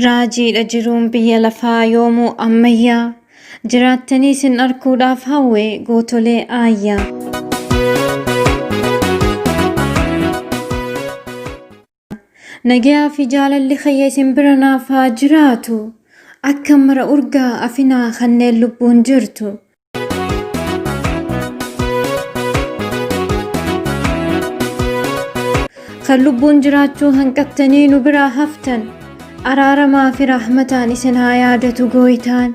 Raajiidha jiruun biyya lafaa yoomuu ammayyaa jiraattanii isin arguudhaaf hawwe gootolee aayyaa. Nagayaa fi jaalalli kiyya isin bira naaf haa jiraatu. Akka mara urgaa afinaa kanneen lubbuun jirtu. Kan lubbuun jiraachuu hanqattanii nu biraa haftan. Araaramaa fi rahmataan isin haa yaadatu gooytaan.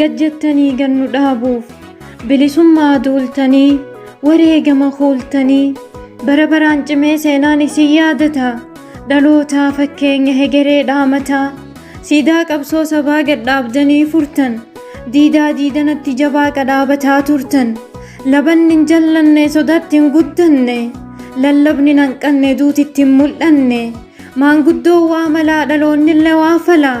Gad jettanii gad nu dhaabuuf bilisummaa duultanii wareegama kuultanii bara baraan cimee seenaan isin yaadata dhalootaa fakkeenya hegeree dhaamata siidaa qabsoo sabaa gad dhaabdanii furtan diidaa diidanatti jabaa qadhaabataa turtan labanni hin jallanne sodaatti hin guddanne lallabni hin hanqanne duutitti hin mul'anne maanguddoo waa malaa dhaloonnillee waa falaa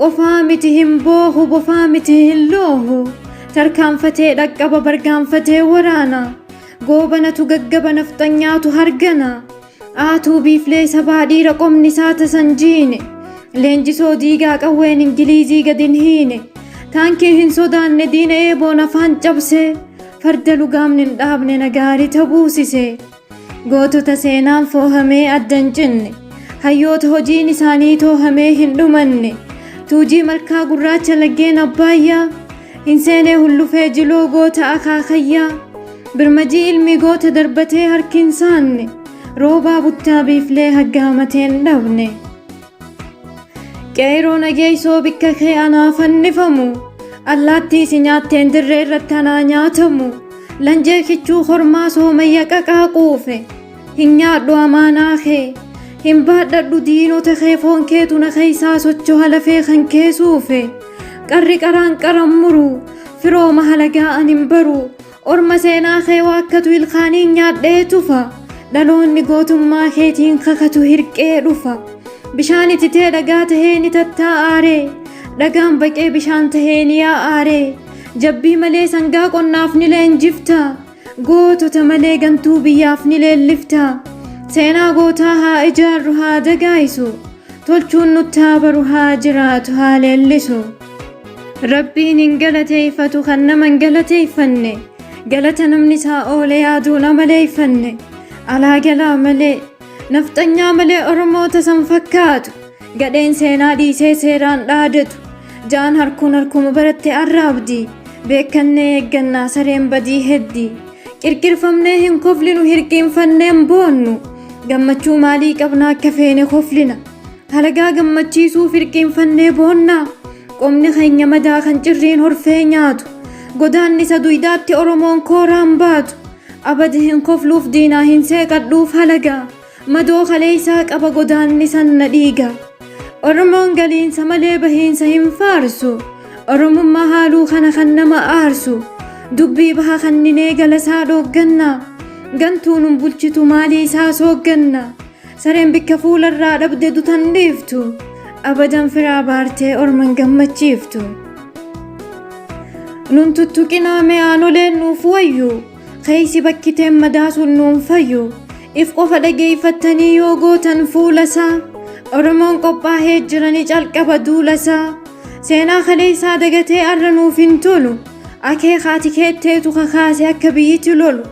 Qofaa miti hin boohu bofaa miti hin loohu tarkaanfatee dhaqqaba bargaanfatee waraana goobanatu gaggaba nafxanyaatu hargana aatuu biiflee sabaa dhiira qomni isaa tasan jiine leenjisoo diigaa qawween ingiliizii gad hin hiine taankii hin sodaanne diina eeboon afaan cabsee farda lugaamni hin dhaabne nagaari tabuusise. Gootota seenaan foohamee adda hin cinne, hayyoota hojiin isaanii toohamee hin dhumanne, tuujii malkaa gurraacha laggeen abbaayyaa, hin seenee hullufee jiloo goota akaakayyaa, birmajii ilmi goota darbatee harki hin saanne, roobaa buttaa biiflee haggaamateen dhabne. Qeeyroo nageeysoo bikka kee anaa fannifamu Allaattii si nyaatteen dirree irratti anaa nyaatamu Lanjee kichuu kormaa soomayya qaqaa quufe Hin nyaadhu amaanaa kee Hin baadhadhu diinota kee foon keetu na keeysaa sochoha lafee kan kee suufe Qarri qaraan qaran muru firooma halagaa an hin baru Orma seenaa kee waakkatu ilkaaniin nyaadhee tufa. Dhaloonni gootummaa keetiin kakatu hirqee dhufa. Bishaan ititee dhagaa tahee ni tattaa'aaree. Dhagaan baqee bishaan tahee ni yaa'aaree. Jabbii malee sangaa qonnaaf ni leenjifta. Gootota malee gantuu biyyaaf ni leellifta. Seenaa gootaa haa ijaarru haa dagaayisu. tolchuun nutti haa baru haa jiraatu haa leellisu rabbiin hin galateeffatu kan nama hin galateeffanne galata namni isaa oole yaaduun amaleeffanne alaa galaa malee nafxanyaa malee oromoota san fakkaatu gadheen seenaa dhiisee seeraan dhaadatu jaan harkuun harkuma baratte arraabdi beekannee eeggannaa sareen badii heddi Qirqirfamnee hin koflinu hirqiinfannee hin boonnu. Gammachuu maalii qabna akka feene koflina. Halagaa gammachiisuuf hirqiinfannee boonnaa. Qomni keenya madaa kan cirriin horfee nyaatu. Godaannisa duydaatti Oromoon kooraan baatu. Abadi hin kofluuf diinaa hin seeqadhuuf halagaa. Madoo kaleessaa qaba godaanni sanna dhiiga. Oromoon galiinsa malee bahiinsa hin faarsu. Oromummaa haaluu kana kan nama aarsu. Dubbii baha kanninee galasaa dhoogganna. Gantuu nun bulchitu maalii isaa soogganna. Sareen bikka fuularraa dhabde dutan dhiiftu. Abadan firaa baartee orman gammachiiftu. Nun tuttuqinaa mee aanoleen nuuf wayyu. Keeysi bakkiteen madaa sun nuun fayyu. If qofa dhageeyfattanii yoo gootan fuulasaa. Oromoon qophaahee jirani calqaba duulasaa. Seenaa kaleeysaa dagatee arra nuuf hin tolu. Akeekaa tikeetteetu kakaase akka biyyiti lolu.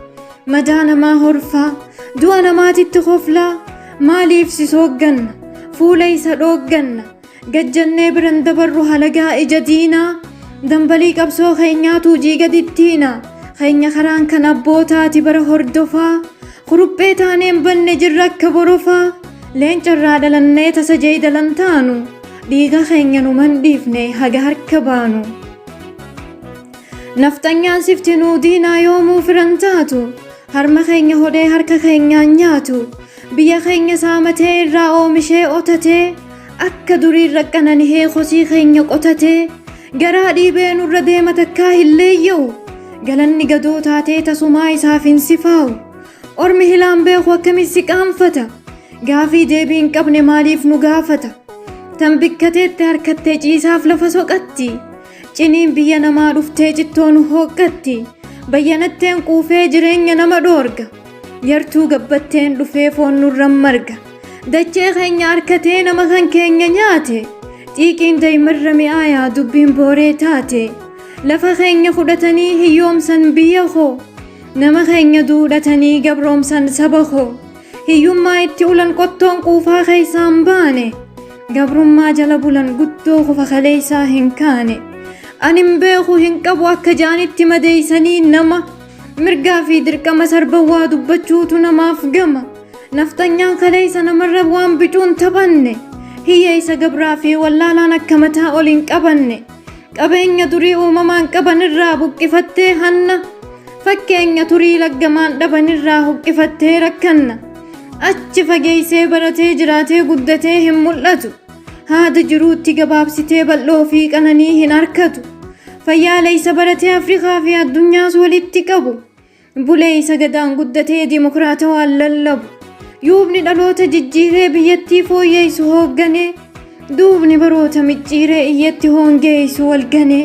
Madaa namaa horfaa. Du'a namaatitti koflaa. Maaliif si soogganna? Fuula isa dhoogganna. Gad jennee bira hin dabarru halagaa ija diinaa, Dambalii qabsoo keenyaa tuujii gad ittiina. Keenya karaan kan abbootaati bara hordofaa, Kuruphee taanee hin banne jirra akka borofaa. Leenca irraa dhalannee tasa jeedala hin taanu, Dhiiga keenya numa hin dhiifne haga harka baanu. Nafxanyaan sifti nuu diinaa yoomuu fira hin taatu, Harma keenya hodhee harka keenyaan nyaatu. Biyya keenya saamatee irraa oomishee otatee, Akka duriin raqqanan hee kosii keenya qotatee garaa dhiibee nurra deema takkaa hin leeyya'u galanni gadoo taatee tasumaa isaaf hin sifaa'u ormi hilaan beeku akkamiin si qaanfata gaafii deebii hin qabne maaliif nu gaafata tan bikkateetti harkattee ciisaaf lafa soqatti ciniin biyya namaa dhuftee cittoo nu hooqqatti bayyanatteen quufee jireenya nama dhoorga yartuu gabbatteen dhufee foon nurran marga. Dachee keenya harkatee nama kan keenya nyaate. Xiiqiin daa'imarra mi'aayaa dubbiin booree taate. Lafa keenya fudhatanii hiyyoomsan biyya koo. Nama keenya duudhatanii gabroomsan saba koo. Hiyyummaa itti ulan qottoon quufaa keessaa hin baane. Gabrummaa jala bulan guddoo kufa kaleessaa hin kaane. Ani hin beeku hin qabu akka jaanitti madeessanii nama. Mirgaa fi dirqama sarba waa dubbachuutu namaaf gama. Nafxanyaan kaleessa namarra waan bicuun taphanne. Hiyyeessa gabraa fi wallaalaan akka mataa ol hin qabanne. Qabeenya durii uumamaan qaban irraa buqqifattee hanna. Fakkeenya turii laggamaan dhaban irraa huqqifattee rakkanna. Achi fageessee baratee jiraatee guddatee hin mul'atu. Haada jiruutti gabaabsitee bal'oo fi qananii hin harkatu. Fayyaala isa baratee Afrikaa fi addunyaas walitti qabu. Bulee isa gadaan guddatee dimokiraatawaan lallabu. Yuubni dhaloota jijjiiree biyyattii fooyyeessu hoogganee. Duubni baroota micciiree iyyatti hoongeessu walganee.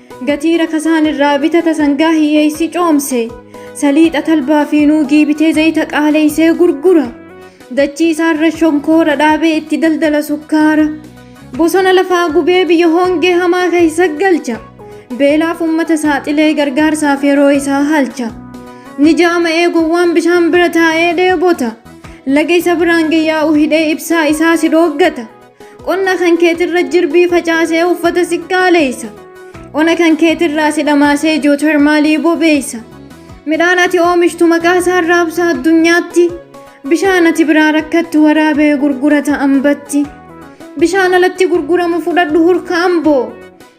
Gatii rakasaan irraa bitata sangaa hiyyeessi coomse. Saliixa talbaa fi nuugii bitee zayita qaaleessee gurgura. Dachii isaarra shonkoora dhaabee itti daldala sukkaara. Bosona lafaa gubee biyya hongee hamaa keessa galcha. Beelaaf uummata saaxilee gargaarsaaf yeroo isaa halcha. Ni jaama'ee gowwaan bishaan bira taa'ee dheebota. Laga isa biraan gayyaa'u hidhee ibsaa isaa si dhooggata. Qonna kan keetirra jirbii facaasee uffata si qaaleessa. Ona kan keetirraa si dhamaasee jootarmaalii bobeessa. Midhaan ati oomishtu maqaa isaan raabsa addunyaatti. Bishaan ati biraa rakkattu waraabee gurgurata ambatti. Bishaan alatti gurguramu fudhadhu hurka amboo.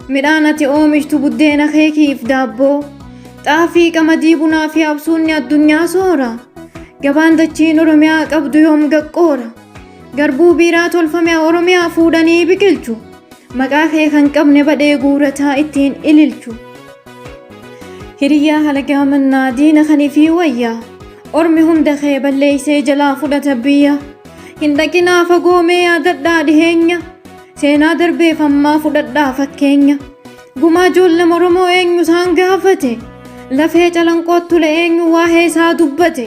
Midhaan ati oomishtu buddeena keekiif daabboo. Xaafii qamadii bunaa fi absuunni addunyaa soora. Gabaan dachiin Oromiyaa qabdu yoom gaqqoora. Garbuu biiraa tolfame Oromiyaa fuudhanii biqilchu. Maqaa kee kan qabne badhee guurataa ittiin ililchu. Hiriyyaa halagaa mannaa diina kan ifii wayyaa. Ormi hunda kee balleeysee jalaa fudhata biyya. Hin dhaqinaa fagoo mee yaadadhaa dhiheenya. Seenaa darbeef ammaa fudhadhaa fakkeenya. Gumaa ijoollee Oromoo eenyu isaan gaafate? Lafee calanqoottule eenyu waa'ee isaa dubbate?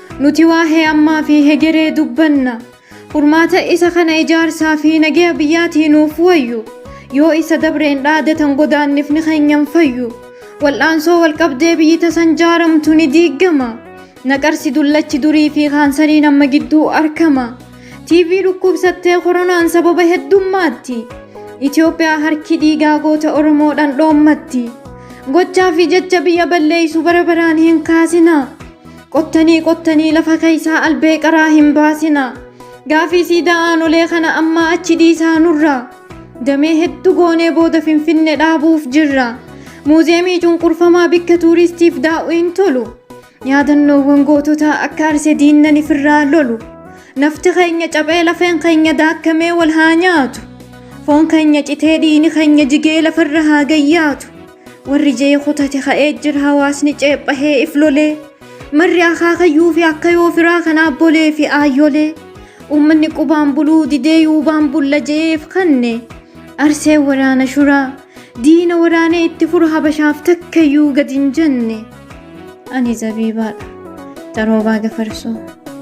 Nuti waahee ammaa fi hegeree dubbanna. Furmaata isa kana ijaarsaa fi nagaya biyyaatii nuuf wayyu. Yoo isa dabreen dhaadatan godaannifni keenya hin fayyu. Wal'aansoo walqabdee biyyi tasan jaaramtu ni diiggama. Naqarsi dullachi durii fi kaansariin amma gidduu arkama. TV dhukkubsattee koronaan sababa heddummaatti. Itoophiyaa harki dhiigaa goota Oromoo dhandhoommatti. Gochaa fi jecha biyya balleessu bara baraan hin kaasinaa. Qottanii qottanii lafa keessaa albee qaraa hin baasina. Gaafii siidaa aanolee kana ammaa achi dhiisaa nurra. Damee hedduu goonee booda Finfinne dhaabuuf jirra. Muuziyeemii cunqurfamaa bikka tuuristiif daa'u hin tolu. Yaadannoowwan goototaa akka arse diinnan ifirraa lolu. Nafti keenya caphee lafeen keenya daakkamee wal haa nyaatu. Foon keenya citee dhiini keenya jigee lafarra haa gayyaatu. Warri jee kutate ka'ee jira hawaasni ceephahee if lolee. Marri akaakayyuu fi akkayoo firaa kan aabbolee fi aayyolee. Uummanni qubaan buluu didee yuubaan bulla je'eef kanne. Arseen waraana shuraa. Diina waraanee itti furu habashaaf takkayyuu gad hin jenne. Ani zabiibaadha. Xaroobaa gafarsoo.